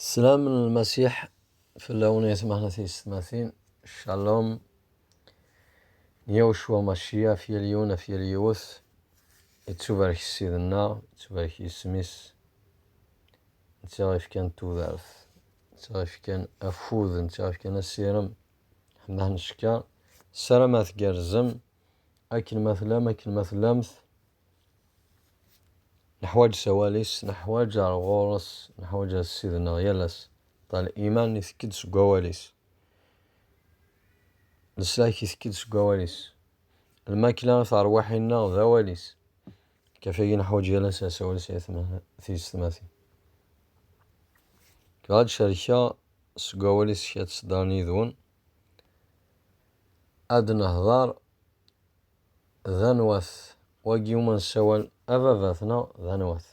Slam n Lmasiḥ fell-awen ay tmeḥna tiyessetmatin, Shalom n Yawecwa Maciya ɣef yal yiwen ɣef yal yiwet, yettubarek Ssid-nneɣ, yettubarek yisem-is, netta ɣef yefkan tudert, netta ɣef yefkan afud, netta ɣef yefkan asirem, ḥemdah n cekka, ssarameɣ tgerrzem, akken ma tellam, akken ma tellamt, Neḥwaǧ sawal-is, neḥwaǧ ar ɣur-s, neḥwaǧ ad sidneɣ yal ass. Ṭal iman itekk-d seg wawal-is, leslak itekk-d seg wawal-is, lmakla i terwiḥin-nneɣ d awal-is. Kafagi neḥwaǧ yal ass asawal s teysetmatin. Kra ad cerkeɣ seg wawal-is kra ad sedren yid-wen, ad nehḍer D anwa-t wagi umi nessawal ababat-nneɣ? D anwa-t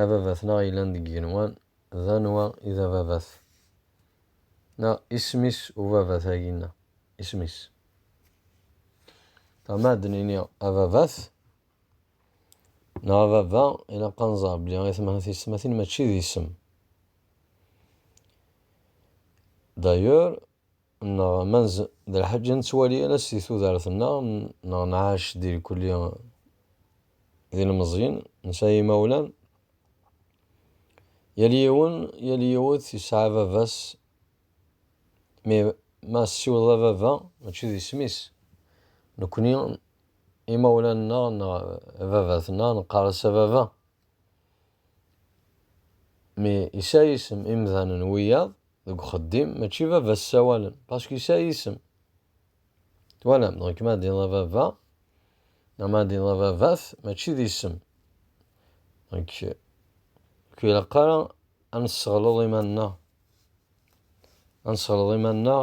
ababat-nneɣ yellan deg yigenwan? D anwa i d ababat neɣ isem-is ubabat-agi-nneɣ? Isem-is. Ma ad d-nini ababat neɣ ababa, ilaq ad nẓer belli atmaten-tiyessetmatin mačči d isem. D'ailleurs, Neɣ ma nz d lḥaǧa nettwali ala s di tudert-nneɣ, neɣ nɛac di lkulli d ilmeẓyen, nesɛa imawlan, yal yiwen, yal yiwet yesɛa baba-s, mi ma tessiwleḍ a baba mačči d isem-is, nekkni imawlan-nneɣ neɣ baba-tneɣ neqqar-as a baba. Mi yesɛa isem imdanen wiyaḍ deg uxeddim mačči baba ssawalen pask yesɛa isem. Twalam donc ma ad d-tiniḍ baba neɣ ma ad d-tiniḍ babat mačči d isem. Donc ur ilaq ara ad nesseɣleḍ iman-nneɣ ad nesseɣleḍ iman-nneɣ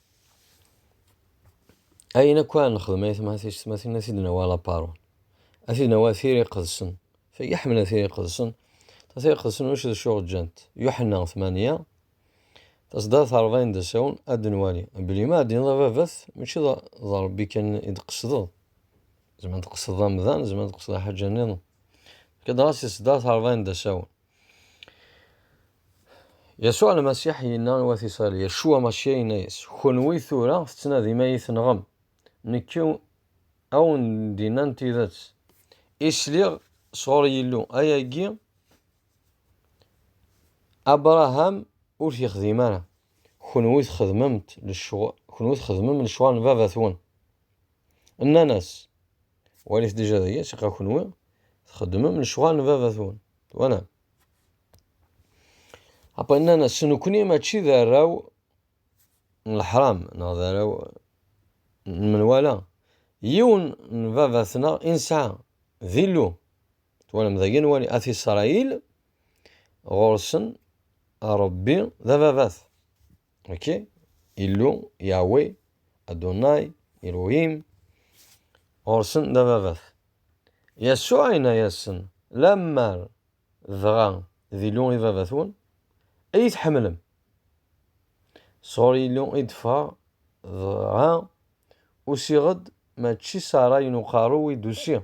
Ayen akk ara nexdem ay tmahat tecmatin ad t-id-nawi a laparun, ad t-id-nawi a tiri iqedsen, tagi ḥemmel a tiri iqedsen, tiri iqedsen ulac d acu ɣ-ǧǧant, Yuḥenna tmanya, taṣeddart ṛebɛin d asawen, ad d-nwali belli ma d-tiniḍ a baba-t mačči d Ṛebbi kan i d-tqesdeḍ, zemren ad tqesdeḍ amdan, zemren ad tqesdeḍ lḥaǧa-nniḍen, fkiḍ-as i tṣeddart ṛebɛin d asawen. Yasuɛ Lmasiḥ yenna i wat Isṛail, Yacua Macia yenna-yas, Kenwi tura tettnadim ad iyi-tenɣem, nekk ad wen-d-innan tidet i sliɣ sɣur Yillu, ayagi Abṛaham ur t-yexdim ara, kenwi txedmem lecɣal n baba-twen. Nnan-as, walit dija d aya, ssiqa kenwi txeddmem lecɣal n baba-twen, twalam. Apa nnan-as, nekni mačči d arraw n leḥram neɣ d arraw n menwala, yiwen n baba-tneɣ i nesɛa, d Illu, twalam, dagi nwali At Isṛayil ɣur-sen Ṛebbi d ababat. ok illu yawe adunay iruhim ɣursen d ababat yassu ayna yasen lammer dɣa d illu i babatwen ay tḥemmlem sɣur illu i d-ffɣeɣ dɣa usiɣ-d mačči s ṛṛay n uqerru i d-usiɣ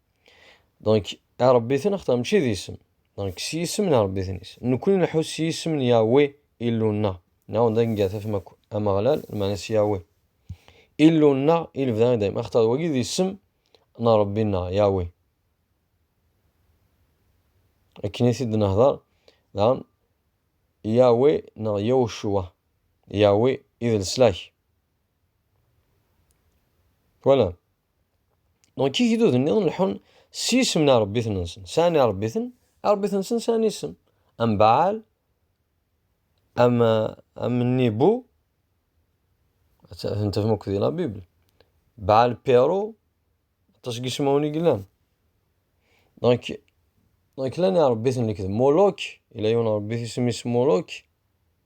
Donc, Arabbiten axtar mačči d isem. Donc, s yisem n Arabbiten-is. Nekul nḥus s yisem n Yahweh Illu-nneɣ. Neɣ d akken gata fem akk. Ameɣlal, lmeɛna s Yahweh. Illu-nneɣ i lebda i dayem. Axtar wagi d isem n Rebbi-nneɣ, Yahweh. Akken i t-id-nehder, daɣen Yahweh neɣ Yahushua. Yahweh i d leslak. Voilà. Donc igduden-nni leḥḥun s yisem n iṛebbiten-nsen, sɛan iṛebbiten, iṛebbiten-nsen sɛan isem, am Baɛal, am am Nibu, tafham akk di la Bible, Baɛal Piɛru, aṭas n yismawen i yellan. Donc donc llan iṛebbiten lekdeb, Muluk, yella yiwen n iṛebbit isem-is Muluk.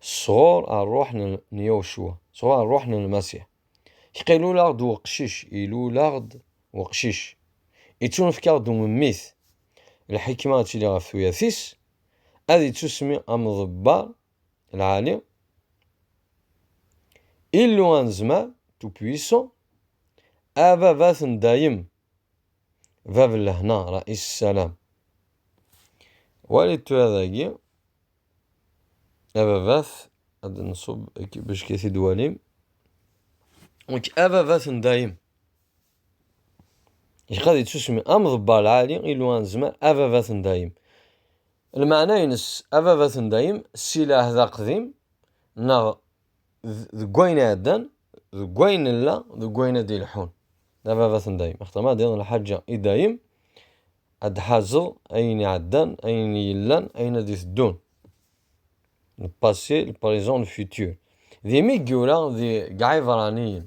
sɣur ṛṛuḥ n Yawecwa, sɣur ṛṛuḥ n Lmasiḥ. Iqilul-aɣ-d weqcic, ilul-aɣ-d weqcic, ittunefk-aɣ-d umemmit. Lḥikma ad tili ɣef tuyat-is, ad ittusmi am Ḍebbar lɛali, Illu anezmar, tout puissant, Ababat n dayem, Bab n lehna, Rais Salam. Walit tura dagi. Ababat, ad nṣub bejk i t-id-walim. Nekk ababat n dayem. Zik ad yetsusmi am ḍebbar lɛali, Illu anezmar, ababat n dayem. Lmeɛna-ines ababat n dayem, si lɛehd aqdim neɣ deg wayen iɛeddan deg wayen nella deg wayen ad d-ilḥun d ababat n dayem axaṭer ma ad yaḍ lḥaǧa i dayem ad d-ḥazeḍ ayen iɛeddan ayen yellan ayen ad d-iteddun le passé le présent le futur d imi i yura deg iɛibraniyen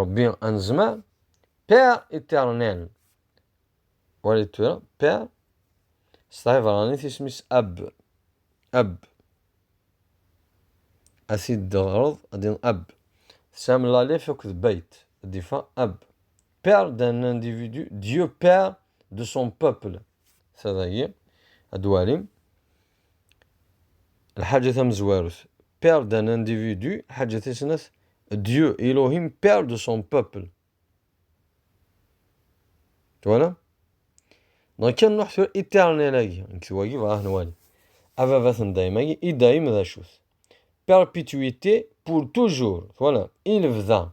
Ṛebbi anezmar Père éternel wali tura Père s tɛibṛanit isem-is Ab Ab ad t-id-teɣreḍ ad d-in Ab tesɛam lalif akked bayt ad d-ifa Ab Père d'un individu Dieu Père de son peuple ta dagi ad walim Lḥaǧa tamezwarut, père d'un individu, lḥaǧa tis snat, Dieu, Elohim, père de son peuple. Twala? Donc, kan nruḥ tura éternel-agi, nekk wagi bɣa nwali. Ababat n dayem-agi, i dayem d acu-t? Perpétuité pour toujours. Twala? I lebda.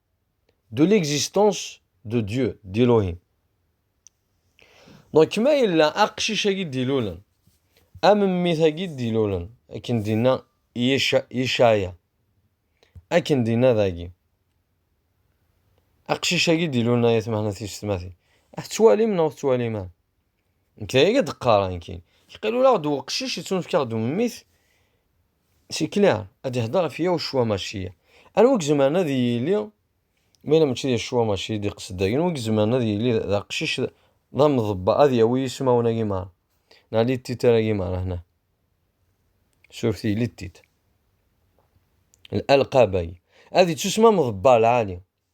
de l'existence de Dieu, d'Elohim. Donc, ma yella aqcic-agi d-ilulen, amemmit-agi d-ilulen, akken dinna Yishaya, akken dinna dagi. Aqcic-agi d-ilulen ay atmahnat yessetmatin. Ad tettwalim neɣ tettwalim ara. Nekk d ay d-qqareɣ nekk. Qil ula ɣ-d uqcic yettunefk-aɣ-d ummit C'est clair, ad ihder ɣef yaw ccwa mačči. Anwa i izemren ad yili, ma yella mačči d ccwa mačči d iqsed dagi, anwa i izemren ad yili d aqcic d amḍebba ad yawi ismawen-agi merra, neɣ littitar-agi merra hna. Surti littit. L'alqab-agi. Ad ittusem amḍebba lɛali.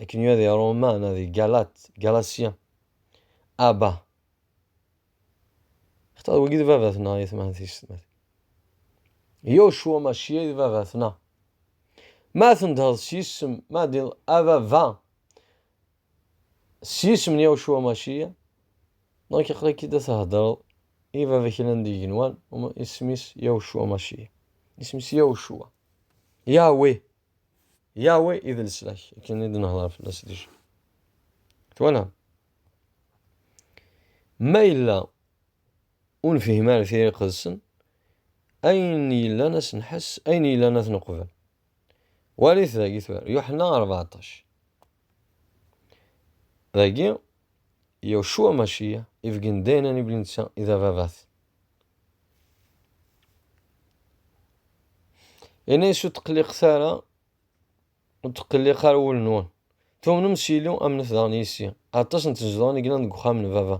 Akken yuɣ di Roma neɣ di Galat, Galasya. Aba. Xtaɣ d wagi d baba-tneɣ i tmahat-is. Yocwa mačči ay d baba-tneɣ. Ma tendheḍ s yisem, ma d ababa s yisem n Yocwa mačči-ya, neɣ aql-ak-id ad theddreḍ i baba kra n yigenwan, isem-is Yocwa mačči-ya. Isem-is Yocwa. Yahweh. Yahweh i d leslak, akken i d-nehḍer fell-as déjà. Twalam? Ma yella ur nefhim ara tira iqedsen, ayen yellan ad s-nḥess, ayen yellan ad t-neqbel. Walit dagi tura, Yuḥenna 14. Dagi, Yahshua Mashiya, ibeggen daynan i blinsa, i d ababat. Ini-as ur tqelliqet ara, ur tqelliq ara wul-nwen. Tumnem s Yili, amnet daɣen yis-i. Aṭas n tzedɣin i yellan deg uxxam n baba.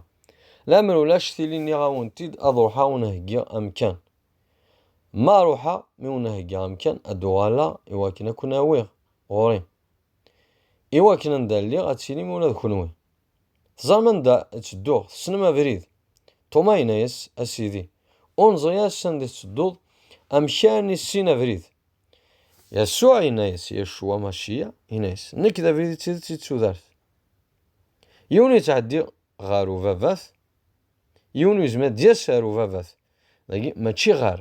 Lamer ulac tili nniɣ-awen-t-id ad ruḥeɣ ur nheggiɣ amkan. Ma ruḥeɣ, mi ur nheggiɣ amkan, ad d-uɣaleɣ i wakken ad ken-awiɣ ɣur-i. I wakken anda lliɣ ad tilim ula d kenwi. Teẓram anda ttedduɣ, tessnem abrid? Toma yenna-yas, A Sidi, ur neẓri ara sanda i tettedduḍ, amek armi tessin abrid? Yasuɛ yenna-yas, Yaccu Amaciya yenna-yas, Nekk d abrid, d tidet, d tudert. Yiwen ur yettɛeddi ɣer ubabat, yiwen ur yezmir ad d-yas ar ubabat, dagi mačči ɣer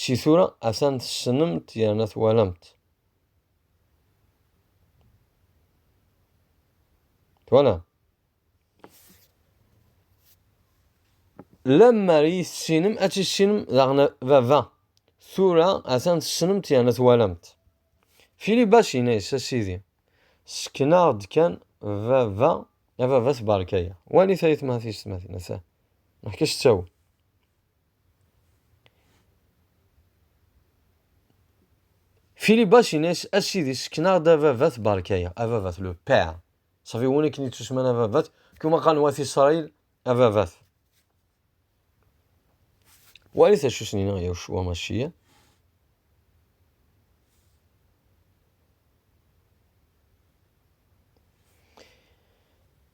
Si tura atan tessnem-t yerna twalam-t. Twalam. Lemmer i tessinem, ad tissinem daɣen baba. Tura atan tessnem-t yerna twalam-t. Fili bas inna-yas a sidi, sken-aɣ-d kan baba, a baba tbarka-ya. Wali tayet ma tiyes tmatin, ata. Neḥka s ttawil. Philibas inès a sidi sekneɣ-d a baba tberkayeɣ a baba le père safi win akken yettusman a baba kuma qan wat Israël a baba wali tacu snin ya Yeshua Mashiach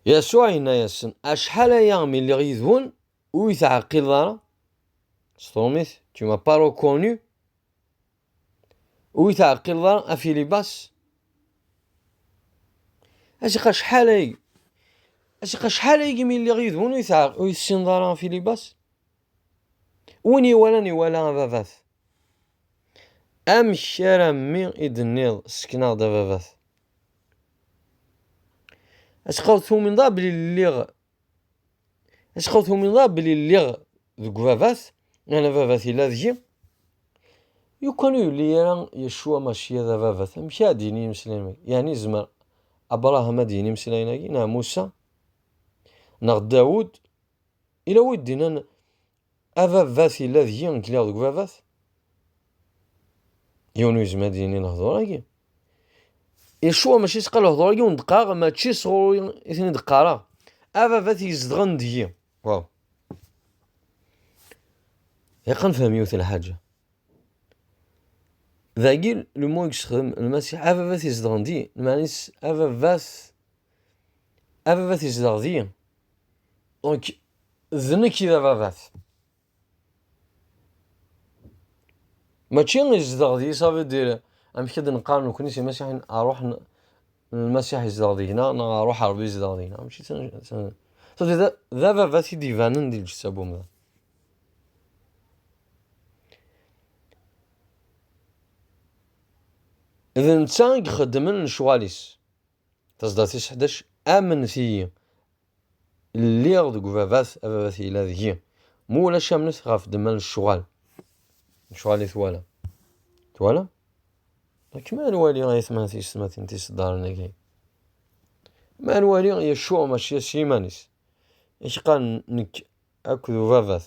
Yasuɛ yenna-yasen, acḥal aya mi lliɣ yid-wen, Ur yi-teɛqileḍ ara? Sḍelm-it, tu m'as pas reconnu? Ur yi-teɛqileḍ ara a Filibas? Acqa acḥal ay acqa acḥal ay imi lliɣ yid-wen ur yi-tessineḍ ara a Filibas? Win iwalan iwala a baba-t. Amek ara mmi i d-tenniḍ ssken-aɣ-d a baba-t? Acqa ur tumineḍ ara belli lliɣ Acxaw tumineḍ ara belli lliɣ deg ubabat, neɣ ababat yella deg-i? Yukan ur yelli ara Yecua Maciya d ababat, amek ara d-yini imeslayen-agi? Yeɛni yezmer Abraham ad d-yini imeslayen-agi, neɣ Musa, neɣ Dawud? Yella wid d-inan Ababat yella deg-i nekk lliɣ deg ubabat. Yiwen ur yezmir ad yini lehdur-agi. Yecwa mačči sqa lehdur-agi ur d-qqareɣ mačči sɣur-i i ten-id-qqareɣ. Ababat yezedɣen deg-i. Waw. Yeqqen fhem yiwet lḥaǧa. Dagi lmu i yexdem lmasiḥ ababat yezedɣen di, lmeɛna-is ababat ababat yezdeɣ di. Donc D nekk i d ababat. Mačči izdeɣ di savi dir amek i d-neqqar nekni s imasiḥin aruḥ n lmasiḥ izdeɣ deg-na neɣ aruḥ Rebbi izdeɣ deg-na. Mačči d ababat i d-ibanen di lǧetta n umdan. D netta i ixeddmen lecɣal-is. Tazdart tis ḥdac, Amnet-iyi, lliɣ deg ubabat, ababat yella deg-i. Ma ulac amnet ɣef ddemma n ccɣal. Ccɣal i twala. Twala? Akken ma nwali ayetma tiyessetmatin tiseddaren-agi. Ma nwali Yeccuɛ mačči s yiman-is. I k-qqaren nekk akked ubabat.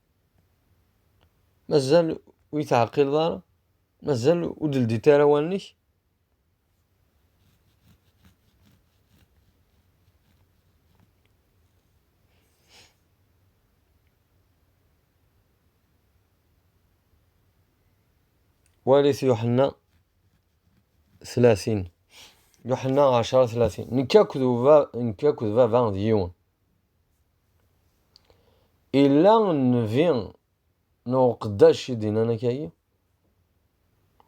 mazal ur yi-teɛqileḍ ara mazal ur d-ldit ara wallen-ik walit Yuḥenna tlatin Yuḥenna ɛecṛa tlatin nekk akked baba d yiwen Illa nnbi neɣ uqeddac i d-innan akagi?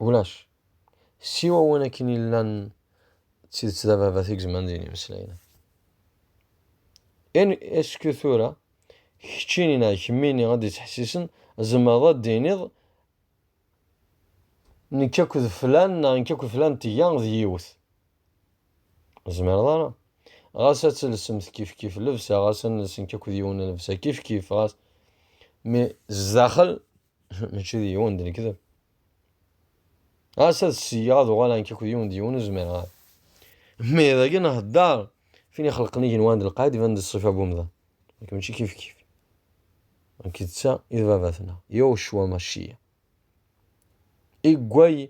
Ulac. Siwa win akken illan d tidet d ababat i gezman din imeslayen. In esku tura, keččini neɣ kemmini ad d-ittḥessisen, tzemreḍ ad d-tiniḍ nekk akked flan neɣ nekk akked flan tga d yiwet. Zemreḍ ara. Ɣas ad telsemt kifkif lebsa, ɣas ad nelsen akk d yiwen lebsa kifkif, ɣas mi zdaxel mačči d yiwen d lekdeb. Ɣas ad siyyeɣ ad uɣaleɣ akk d yiwen d yiwen ur zmireɣ ara. Mi dagi nhedder fin ixelqen igenwan d lqaɛid iban-d ṣṣifa n umdan. Nekk mačči kifkif. Nekk d ta i d baba-tneɣ, Yewcwa Maciya. Iggway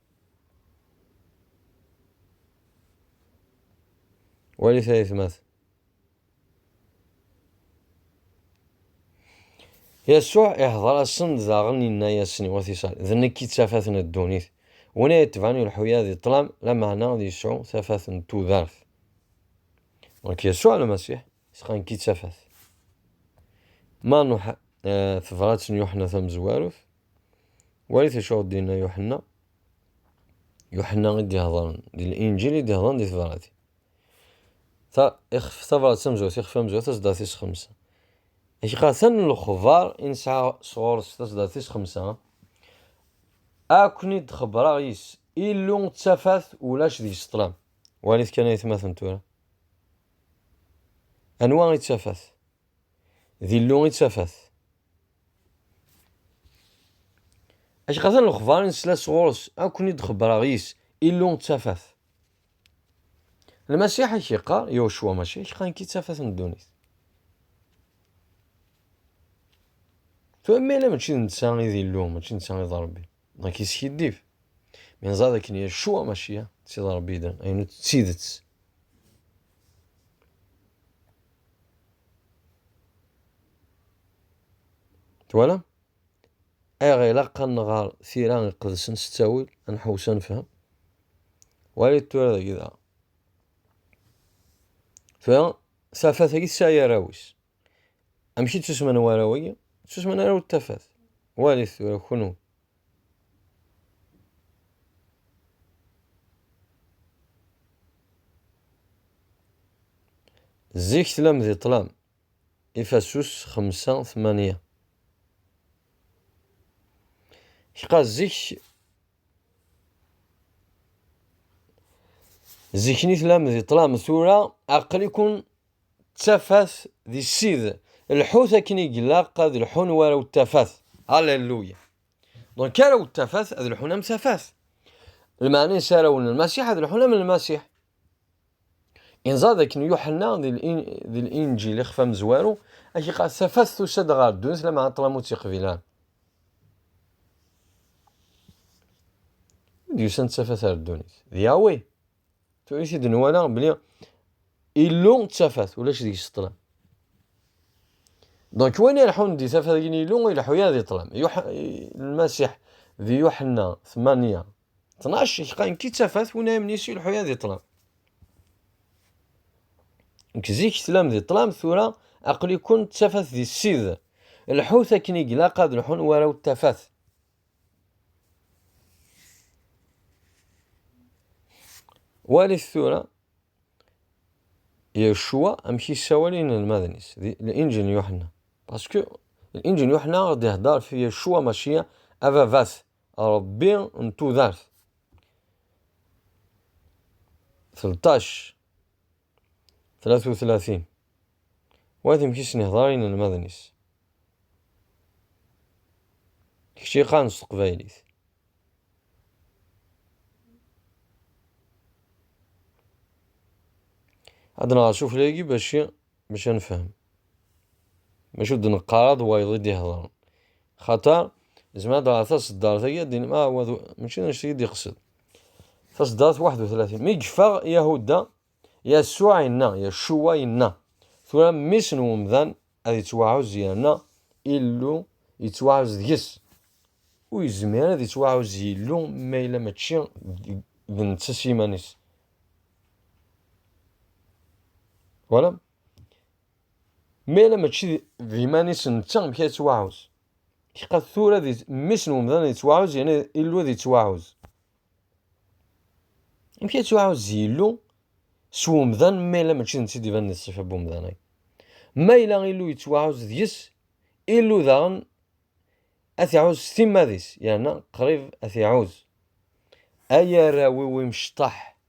Wali tayetma-t. Yasuɛ ihdeṛ-asen-d daɣen yenna-yasen i wat Isṛail, D nekk i d tafat n ddunit, win ay itebɛen ileḥḥu-a di ṭṭlam, lameɛna ad yesɛu tafat n tudert. Nekk Yasuɛ Lmasiḥ sɣeɣ nekk i d tafat. Ma tebṛat n Yuḥenna Tamezwarut. Walit acu ɣ d-yenna Yuḥenna, Yuḥenna i d-iheḍren di Linǧil i d-iheḍren di tebrat. Ta, ixef, tabrat tamezwarut, ixef amezwaru taseddarit-is xemsa. Iqatan n lexbar i nesɛa sɣur-s taseddarit-is xemsa, akk-n-id xebraɣ yis Illu d tafat ulac deg-s ṭlam. Walit kan aytmaten tura. Anwa i d tafat? D Illu i d tafat. Acku atan lexbar i nesla sɣur-s, ad ken-id-xebbreɣ yis, Illu d tafat. Lmasiḥ ak yeqqar, Yahuswa mačči ak qan-k i tafat n ddunit. Tura ma yella mačči d netta i d Illu, mačči d netta i d Rebbi, dɣa k-yeskiddib. Mi neẓra d akken Yahuswa mačči d Rebbi, d ayen d tidet. Twala? Ayɣ ilaq ad nɣer tira iqedsen s ttawil, ad nḥewwes ad nefhem? Walit tura dagi da. Tura, tafat-agi tesɛi arraw-is. Amek i ttusmen warraw-agi? Ttusmen arraw d tafat. Walit tura kunwi. Zik tlam di ṭlam. Ifasus xemsa tmanya. Kqa zik zikni tlam di ṭlam tura aqli-kun d tafat di ssid. Lḥut akken i glaq ad lḥun war awt tafat. Alléluia. Donc ara awt tafat ad lḥun am tafat. Lmeɛna isarawen n Lmasiḥ ad lḥun am Lmasiḥ. Inẓad akken Yuḥenna di l-Inǧil ixef amezwaru ak iqal tafat tusa-d ɣer ddunit la meɛna ṭlam ur tt-iqbil ara. Ur d-yusan tafat ar ddunit. D Yahweh tura i t-id-nwala bli Illu d tafat, ulac deg-s ṭṭlam. Donc win ileḥḥun di tafat n Illu, ur ileḥḥu ara di ṭṭlam. Lmasiḥ di Yuḥenna 8, 12, iḥeqqa nekk i d tafat, win ara imnis ur ileḥḥu ara di ṭṭlam. Nekk zik tlam di ṭṭlam, tura aql-ikun d tafat di Ssid. Lḥut akken i ilaq ad lḥun warraw d tafat. Walit tura Yecwa amek yessawal i yinelmaden-is, di Linǧil n Yuḥenna. Paske Linǧil n Yuḥenna ɣ d-ihedder f Yecwa Maciya, ababat, Ṛebbi n tudert. 13. tlata u tlatin Wati amek i sen-ihḍer i yinelmaden-is. D kečč i yeqqaren s teqbaylit. Ad nɣer s uflagi bac bac ad nefhem. Maca ur d-neqqar ad wayeḍ i d-ihḍren. Xaṭer, zmer ad ɣer taṣeddart-agi ad d-inem ah, mačči d annect-agi i d-iqsed. Taseddart 31. Mi yeffeɣ Yahuda, Yasuɛ inna, Yacuwa inna, tura mmi-s n umdan ad yettwaɛuzz yerna Illu yettwaɛuzz deg-s. Ur yezmir ad yettwaɛuzz Illu ma yella mačči d netta s yiman-is. Twalam? Ma yella mačči d iman-is netta, amek ad yettwaɛuzz? Cqa tura di mmi-s n umdan ad ittwaɛuz yerna Illu ad ittwaɛuz. Amek ad ittwaɛuz Illu s umdan ma yella mačči d netta i d-ibanen di ṣṣifa n umdan-agi? Ma yella Illu yettwaɛuz deg-s, Illu daɣen ad iɛuz s timmad-is yerna qrib ad iɛuz. Ay arraw-iw imecṭaḥ,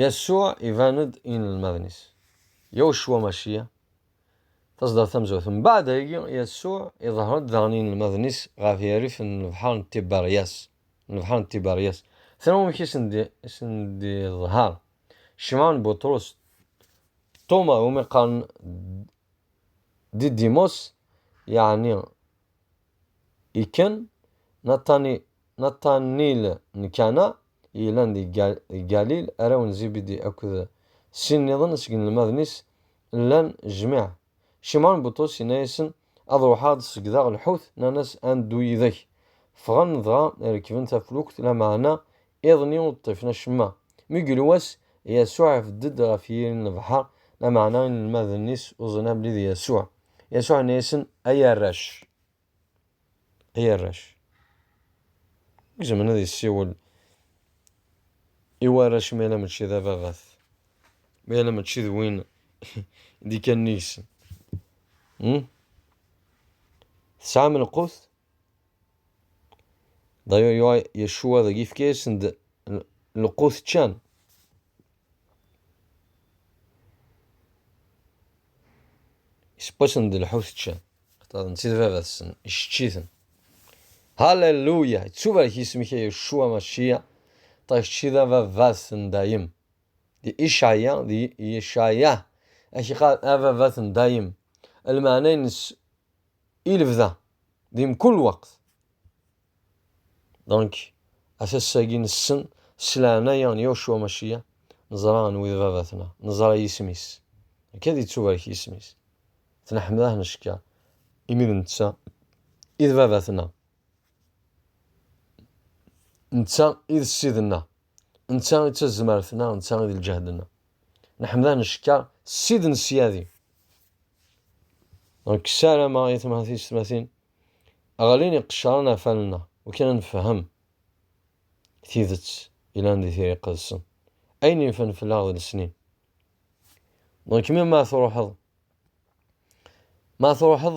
Yasuɛ iban-d i yinelmaden-is. Yawecwa Maciya, tazdart tamezwarut. Mbeɛd ayagi, Yasuɛ iḍher-d daɣen i yinelmaden-is ɣef yirrif n lebḥer n Tiberyas, n lebḥer n Tiberyas. Tram amek i sen-d-iḍher? Cimɛun Buṭrus, Ṭuma, iwumi qqaren Didimos, yeɛni Iken, Natanil n Kana, i yellan di Galil, arraw n Zibidi akked sin nniḍen seg inelmaden-is llan jmiɛ. Cimɛun Buṭrus yenna-yasen, Ad ruḥeɣ ad segdeɣ lḥut, nnan-as, Ad neddu yid-k. Ffɣen dɣa rekben taflukt, lameɛna Iḍ-nni ur ḍḍifen acemma. Mi yuli wass, Yasuɛ ibedd-d ɣef yiri n lebḥer, lameɛna inelmaden-is ur ẓrin abrid i Yasuɛ. Yasuɛ yenna-yasen, Ay arrac! Ay arrac! Amek zemren ad yessiwel i warrac mi ala mačči d ababat, mi ala mačči d win i d-ikkanen yis-sen? Tesɛam lqut? D'ailleurs, Yeshua dagi yefka-yasen-d lqut ččan. Yesseww-asen-d lḥut ččan. Xaṭer netta d baba-tsen, icečč-iten. Halleluya! Yettubarek yisem-ik a Yeshua Mashiya, ṭṭaq kečč d ababat n dayem. Di Icaya, di Icaya, ak iqal ababat n dayem. Lmeɛna-nnes i lebda di mkul lweqt. Donc, a tassa-agi nessen s leɛnaya n Yacua Maciya, neẓra anwi d Baba-tneɣ, neẓra yisem-is. Akka ad ittubarek yisem-is. Tneḥmed-ah necka, imi d netta i d Baba-tneɣ. Netta i d Ssid-nneɣ. Netta i d tazmert-nneɣ, netta i d lǧehd-nneɣ. Neḥmed-a necka ssid n syadi. Donc ssarameɣ i tmatis-tmatin ɣlin iqecran ɣef wallen-a ukin ad nfehhem tidet yellan di tira iqedsen, ayen yefan fell-aɣ d lesnin. Donc mi ma truḥeḍ ma truḥeḍ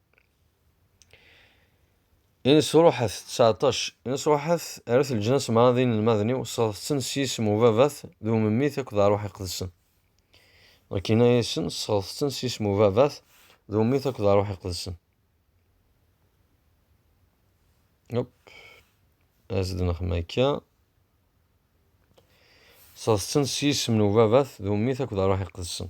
Inesruḥet, ţseɛṭac, inesruḥet err-it leǧnas meṛṛa d inelmaden-iw, sseɣḍet-ten s yisem n Ubabat, d Umemmit akked d Ṛṛuḥ Iqedsen. Dɣa inna-yasen, Sseɣḍet-ten s yisem n Ubabat, d Umemmit akked d Ṛṛuḥ Iqedsen. Hop, as-d nexdem akka. Sseɣḍet-ten s yisem n Ubabat, d Umemmit akked d Ṛṛuḥ Iqedsen.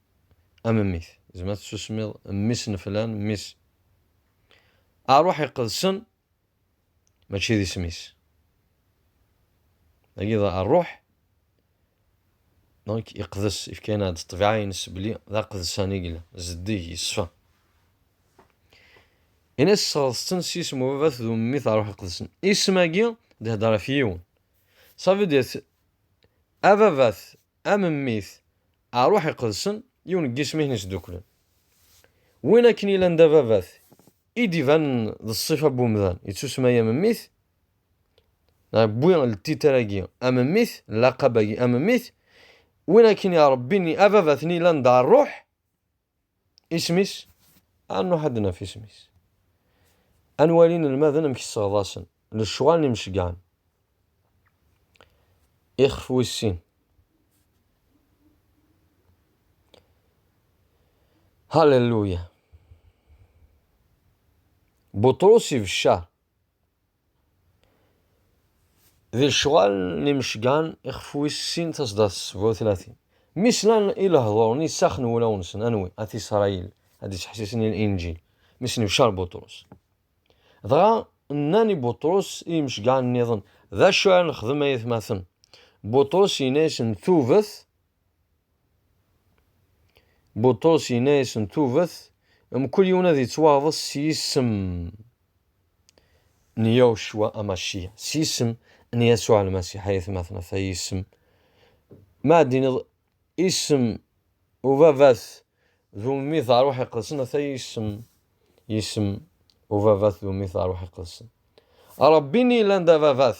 A memmit, zma tessusmiḍ mmi-s n flan, mmi-s. Aṛuḥ iqedsen mačči d isem-is. Dagi d aṛuḥ, donc iqdes, ifka-aneɣ-d ṭṭbiɛa-ines belli d aqedsan i yella, zeddig, yeṣfa. Ini tesɣeḍ-ten s yisem ubabat d umemmit aṛuḥ iqedsen. Isem-agi d-ihedder ɣef yiwen. Ça veut dire, ababat Am mmi-t, Aṛuḥ Iqedsen, yiwen n yisem i ten-isdukklen. Win akken yellan d ababat, i d-ibanen d ṣṣifa n wemdan, yettusemma-yi am mmi-t, neɣ yewwi ltitr-agi am mmi-t, llaqab-agi am mmi-t, win akken iṛebbin ababat-nni yellan d Aṛuḥ, Isem-is, ad nruḥ ad d-naf isem-is. Ad nwali inelmaden amek sseɣḍasen, lecɣal n imceggɛen. Ixef wis sin. Halleluya. Buṭrus ibeccar. D lecɣal n imecgan ixef wis sin tasdadt s bu tlatin. Mi slan i lehdur n isax n wulaw-nsen, anwi? At Isṛayil, ad d-iseḥsisen i Linǧil, mi snebcar Buṭrus. Dɣa nnan i Buṭrus i yimecgan nniḍen, D acu ara nexdem ay atmaten? Buṭrus yenna-yasen, Tuvet Buṭus yenna-yasen tuvet, mkul yiwen ad yettwaɣḍes s yisem n Yawecwa Amaciya, s yisem n Yasuɛ Lmasiḥ, ay atmaten, ata yisem, ma ad d-tiniḍ isem ubabat d ummi d ṛṛuḥ iqedsen, ata yisem, isem ubabat d ummi d ṛṛuḥ iqedsen. Ṛebbi-nni yellan d ababat,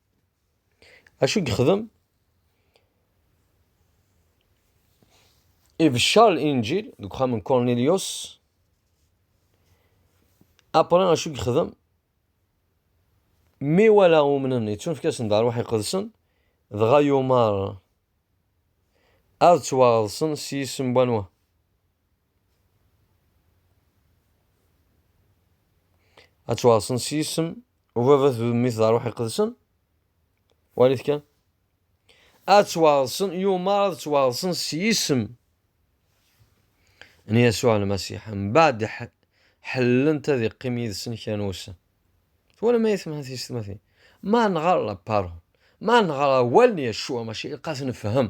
Acu yexdem? Ibeccer linǧil deg uxxam n Cornelius. Apre acu yexdem? Mi wala umnen yettunefk-asen d arwaḥ iqedsen, dɣa yumar ad ttwaɣḍsen s yisem n wanwa? ad ttwaɣsen s yisem ubabat d udemmi d ṛṛuḥ iqedsen walit kan ad ttwaɣsen yumar ad ttwaɣsen s yisem n Yasuɛ Lmasiḥ mbaɛd ḥellent ad iqqim yid-sen kra n wussan twalam ay temḥa tiyessetmatin ma nɣer la parole ma nɣer awal n Yasuɛ maca ilaq ad nefhem